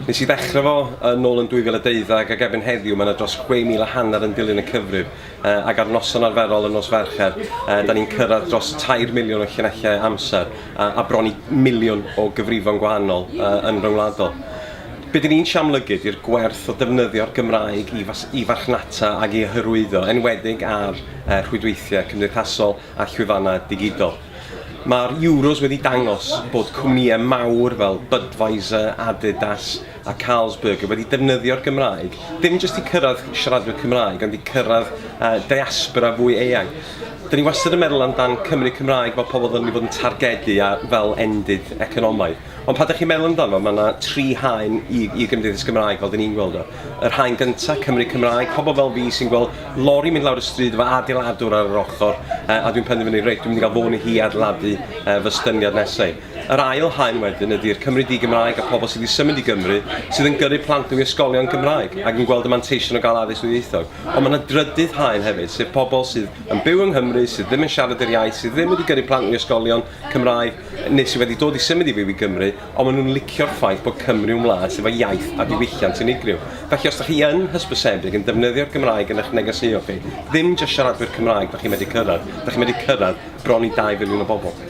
Nes i ddechrau fo yn ôl yn 2012 ac erbyn heddiw mae yna dros 6,000 a hanner yn dilyn y cyfrif uh, ac ar noson arferol yn nos Fercher uh, da ni'n cyrraedd dros 3 miliwn o llinellau amser uh, a bron i miliwn o gyfrifon gwahanol uh, yn ryngwladol. Be dyn ni'n siamlygu di'r gwerth o defnyddio'r Gymraeg i, fas, i farchnata ac i hyrwyddo, enwedig ar rhwydweithiau cymdeithasol a llwyfannau digidol. Mae'r Euros wedi dangos bod cwmnïau mawr fel Budweiser, Adidas a Carlsberg wedi defnyddio'r Gymraeg, dim jyst i cyrraedd siaradwyr Cymraeg, ond i cyrraedd diaspora fwy eang. Dyn ni wastad yn meddwl amdan Cymry Cymraeg fel pobl ddylwn ni fod yn targedu a fel endid economaidd. Ond pan 'da chi'n meddwl amdano, mae yna tri haen i, i Gymdeithas Gymraeg fel dyn ni'n gweld o. Yr haen gyntaf, Cymru Cymraeg, pobl fel fi sy'n gweld lori mynd lawr y stryd efo adeiladwr ar yr ochr, e, a dwi'n penderfynu, reit, dwi'n mynd i gael fôn i hi adeiladu e, fy styniad nesau. Yr ail haen wedyn ydy'r Cymru di-Gymraeg a pobl sydd wedi symud i Gymru, sydd yn gyrru plant nhw i ysgolion Gymraeg ac yn gweld y manteision o gael addysg ddwyieithog. Ond mae yna drydydd haen hefyd, sef pobl sydd yn byw yng Nghymru, sydd ddim yn siarad yr iaith, sydd ddim wedi gyrru plant nhw i ysgolion, Cymraeg, neu sydd wedi dod i symud i fyw i Gymru, ond maen nhw'n licio'r ffaith bod Cymru yn wlad sydd efo iaith a diwylliant unigryw. Felly, os dych chi yn hysbysebig yn defnyddio'r Gymraeg yn eich negeseuon chi, ddim jyst siaradwyr Cymraeg dych chi'n medru cyrraedd, dych chi'n medru cyrraedd bron i dau filiwn o bobl.